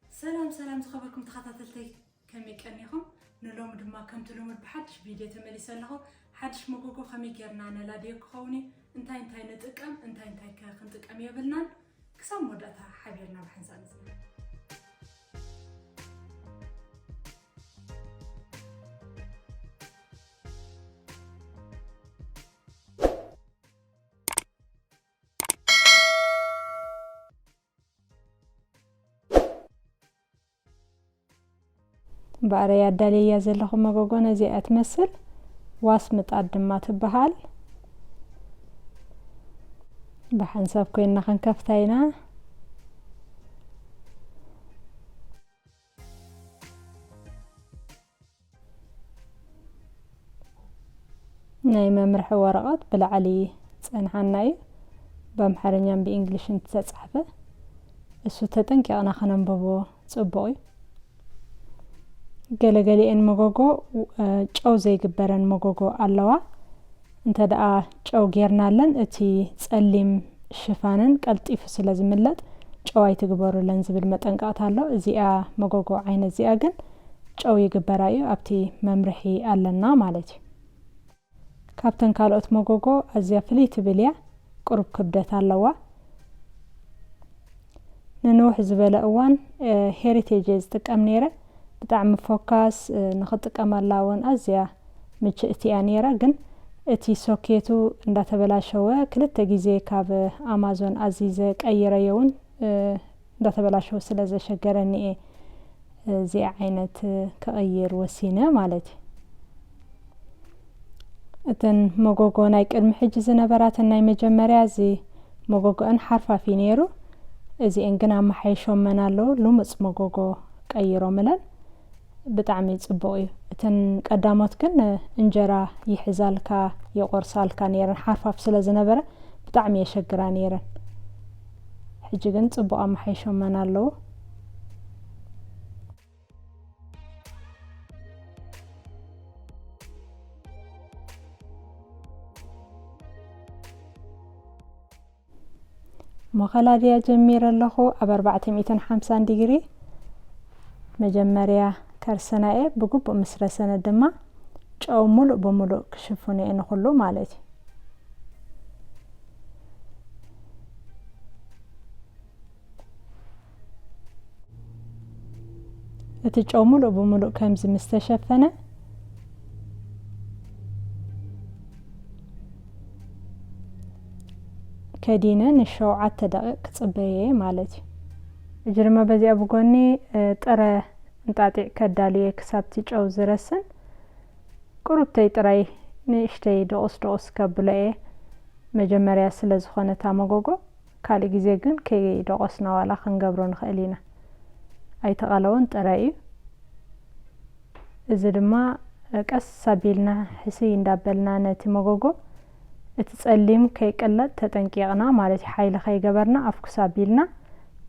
ሰላም ሰላም ዝኸበርኩም ተኸታተልተይ ከመይ ቀኒኹም? ንሎሚ ድማ ከምቲ ልሙድ ብሓድሽ ቪድዮ ተመሊሰ ኣለኹ። ሓድሽ መጎጎ ከመይ ጌርና ነላድዮ ክኸውን እዩ፣ እንታይ እንታይ ንጥቀም እንታይ እንታይ ከ ክንጥቀም የብልናን ክሳብ መወዳእታ ሓቢርና ብሓንሳእ ንጽናሕ። ባዕለይ ኣዳልየያ ዘለኹ መጎጎ ነዚኣ ትመስል ዋስ ምጣድ ድማ ትበሃል ብሓንሳብ ኮይንና ክንከፍታ ኢና ናይ መምርሒ ወረቐት ብላዕሊ ጸንሓና እዩ ብኣምሓርኛን ብእንግሊሽን ተጻሕፈ እሱ ተጠንቂቕና ከነንብቦ ጽቡቕ እዩ ገለገሊኤን መጎጎ ጨው ዘይግበረን መጎጎ ኣለዋ እንተድኣ ጨው ጌርናለን እቲ ጸሊም ሽፋነን ቀልጢፉ ስለ ዝምለጥ ጨው ኣይትግበሩለን ዝብል መጠንቀቕታ ኣሎ። እዚኣ መጎጎ ዓይነት እዚኣ ግን ጨው ይግበራ እዩ ኣብቲ መምርሒ ኣለና ማለት እዩ። ካብተን ካልኦት መጎጎ ኣዝያ ፍልይ ትብል እያ። ቅሩብ ክብደት ኣለዋ። ንንውሕ ዝበለ እዋን ሄሪቴጅ እየ ዝጥቀም ነይረ ብጣዕሚ ፎካስ ንክጥቀመላ እውን ኣዝያ ምችእቲ እያ ነይራ ግን እቲ ሶኬቱ እንዳተበላሸወ ክልተ ግዜ ካብ ኣማዞን ኣዚዘ ቀይረዮ እውን እንዳተበላሸወ ስለ ዘሸገረኒ እየ እዚኣ ዓይነት ክቕይር ወሲነ ማለት እዩ። እተን መጎጎ ናይ ቅድሚ ሕጂ ዝነበራተን ናይ መጀመርያ እዚ መጎጎአን ሓርፋፍ እዩ ነይሩ እዚኤን ግን ኣመሓይሾመን ኣለዉ ልሙፅ መጎጎ ቀይሮምለን ብጣዕሚ ፅቡቅ እዩ እተን ቀዳሞት ግን እንጀራ ይሕዛልካ የቆርሳልካ ነይረን ሓርፋፍ ስለ ዝነበረ ብጣዕሚ የሸግራ ነይረን ሕጂ ግን ፅቡቅ ኣመሓይሾመን ኣለዉ መኸላድያ ጀሚረ ኣለኹ ኣብ ኣርባዕተ ሚእትን ሓምሳን ዲግሪ መጀመርያ ከርስና እየ ብግቡእ ምስ ረሰነ ድማ ጨው ሙሉእ ብሙሉእ ክሽፍኑ እየ ንኹሉ ማለት እዩ እቲ ጨው ሙሉእ ብሙሉእ ከምዚ ምስ ተሸፈነ ከዲነ ንሸውዓተ ደቂቕ ክፅበየ እየ ማለት እዩ እጂ ድማ በዚኣ ብጎኒ ጥረ እንጣጢዕ ከዳልየ ክሳብቲ ጨው ዝረስን ቁሩብተይ ጥራይ ንእሽተይ ደቑስ ደቑስ ከብሎ እየ መጀመርያ ስለ ዝኾነ እታ መጎጎ ካልእ ግዜ ግን ከይደቖስና ዋላ ክንገብሮ ንኽእል ኢና። ኣይተቐለወን ጥራይ እዩ። እዚ ድማ ቀስ ኣቢልና ሕስይ እንዳበልና ነቲ መጎጎ እቲ ጸሊም ከይቅለጥ ተጠንቂቕና ማለት እዩ። ሓይሊ ከይገበርና ኣፍኩስ ኣቢልና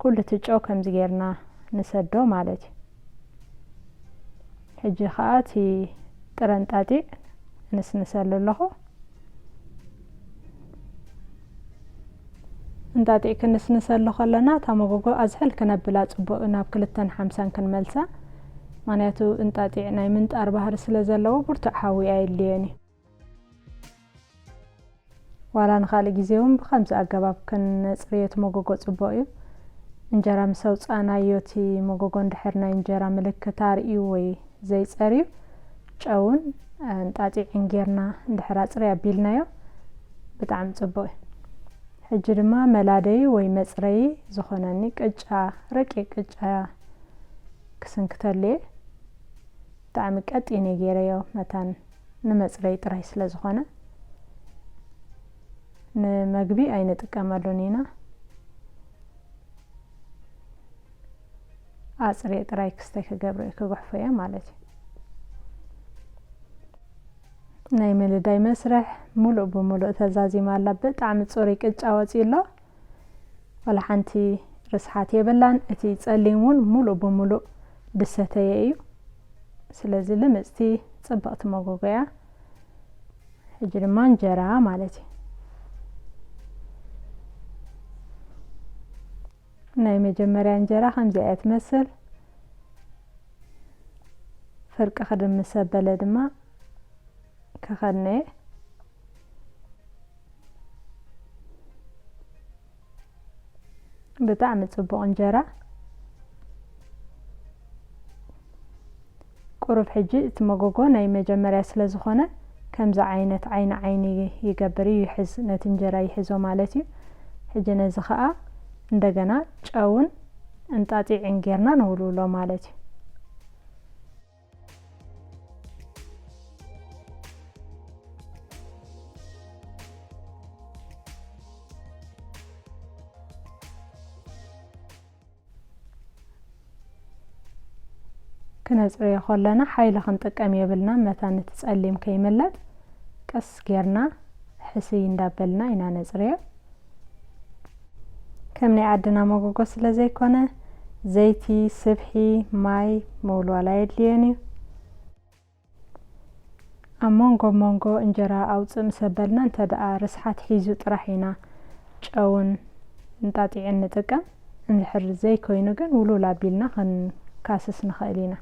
ኩሉ እቲ ጨው ከምዚ ጌርና ንሰዶ ማለት እዩ። ሕጂ ከኣ እቲ ጥረ እንጣጢዕ እንስንሰሉ ኣለኹ። እንጣጢዕ ክንስንሰሉ ከለና እታ መጎጎ ኣዝሕል ክነብላ ጽቡቅ እዩ ናብ ክልተን ሓምሳን ክንመልሳ ማንያቱ እንጣጢዕ ናይ ምንጣር ባህሪ ስለ ዘለዎ ብርቱዕ ሓዊ ኣየድልዮን እዩ። ዋላ ንካልእ ግዜ ውን ብከምዚ ኣገባብ ክነጽርዮ እቲ መጎጎ ጽቡቅ እዩ። እንጀራ ምስ ኣውጻእናዮ እቲ መጎጎ እንድሕር ናይ እንጀራ ምልክት ኣርእዩ ወይ ዘይጸርዩ ጨውን እንጣጢዕን ጌርና እንድሕር ኣጽርይ ኣቢልናዮ ብጣዕሚ ጽቡቅ እዩ። ሕጂ ድማ መላደዪ ወይ መጽረዪ ዝኾነኒ ቅጫ ረቂቅ ቅጫ ክስንክተሉ እየ። ብጣዕሚ ቀጢን እየ ጌረዮ መታን ንመጽረዪ ጥራይ ስለ ዝኾነ ንመግቢ ኣይንጥቀመሉን ኢና። ኣጽርየ ጥራይ ክስተይ ክገብረ እዩ ክግሕፎ እየ ማለት እዩ ናይ ምልዳይ መስርሕ ሙሉእ ብሙሉእ ተዛዚማ ኣላ ብጣዕሚ ፅሩይ ቅጫ ወፅዩ ኣሎ ዋላ ሓንቲ ርስሓት የብላን እቲ ፀሊም እውን ሙሉእ ብሙሉእ ድሰተየ እዩ ስለዚ ልምፅቲ ፅብቕቲ መጎጎ እያ ሕጂ ድማ እንጀራ ማለት እዩ ናይ መጀመርያ እንጀራ ከምዚኣ እያ ትመስል ፍርቂ ክድም ምስ ኣበለ ድማ ከኸድነ እየ ብጣዕሚ ፅቡቕ እንጀራ ቁሩብ ሕጂ እቲ መጎጎ ናይ መጀመርያ ስለ ዝኾነ ከምዚ ዓይነት ዓይኒ ዓይኒ ይገብር እዩ ይሕዝ ነቲ እንጀራ ይሕዞ ማለት እዩ ሕጂ ነዚ ከኣ እንደገና ጨውን እንጣጢዕን ጌርና ንውልውሎ ማለት እዩ። ክነጽርዮ ከለና ሓይሊ ክንጥቀም የብልና መታን እቲ ጸሊም ከይምለጥ ቀስ ጌርና ሕስይ እንዳበልና ኢና ነጽርዮ ከም ናይ ዓድና መጎጎ ስለ ዘይኮነ ዘይቲ ስብሒ ማይ ምውልዋል ኣየድልዮን እዩ ኣብ ሞንጎ ሞንጎ እንጀራ ኣውፅእ ምስ ኣበልና እንተድኣ ርስሓት ሒዙ ጥራሕ ኢና ጨውን እንጣጢዕን ንጥቀም። እንድሕር ዘይኮይኑ ግን ውሉል ኣቢልና ክንካስስ ንኽእል ኢና።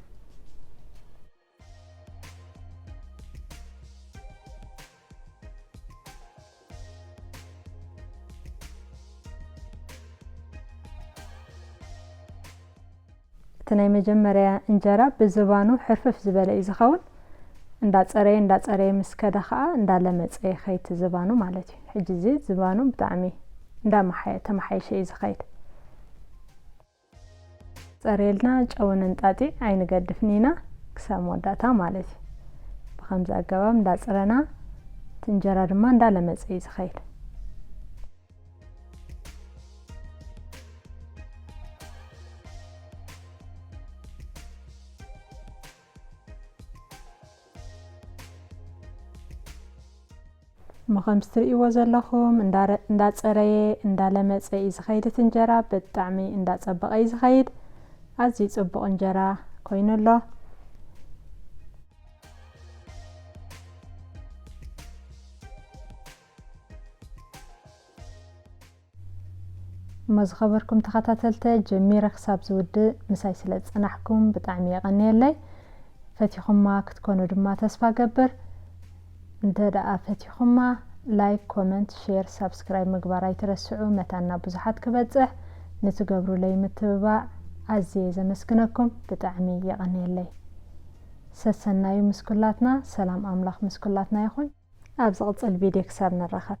እቲ ናይ መጀመርያ እንጀራ ብዝባኑ ሕርፍፍ ዝበለ እዩ ዝኸውን እንዳፀረየ እንዳፀረየ ምስ ከደ ከዓ እንዳለመፀ ይኸይድ ዝባኑ ማለት እዩ ሕጂ እዚ ዝባኑ ብጣዕሚ እንዳመሓየ ተመሓይሸ እዩ ዝኸይድ ጸርየልና ጨውን እንጣጢዕ ኣይንገድፍን ኢና ክሳብ መወዳእታ ማለት እዩ ብከምዚ ኣገባብ እንዳጽረና እቲ እንጀራ ድማ እንዳለመጸ እዩ ዝኸይድ እሞ ከምዚ ትርእይዎ ዘለኹም እንዳፀረየ እንዳለመፀ እዩ ዝኸይድ እቲ እንጀራ ብጣዕሚ እንዳፀበቐ እዩ ዝኸይድ ኣዝዩ ፅቡቕ እንጀራ ኮይኑ ኣሎ እሞ ዝኸበርኩም ተኸታተልተ ጀሚረ ክሳብ ዝውድእ ምሳይ ስለ ዝጸናሕኩም ብጣዕሚ የቐንየለይ ፈቲኹማ ክትኮኑ ድማ ተስፋ ገብር እንተ ደኣ ፈቲኹማ ላይክ ኮመንት ሼር ሳብስክራይብ ምግባር ኣይትረስዑ መታና ብዙሓት ክበጽሕ ንትገብሩለይ ምትብባዕ ኣዝየ ዘመስግነኩም ብጣዕሚ የቐንየለይ ሰሰናዩ ምስ ኩላትና ሰላም ኣምላኽ ምስ ኩላትና ይኹን ኣብ ዝቕጽል ቪድዮ ክሳብ ንራኸብ።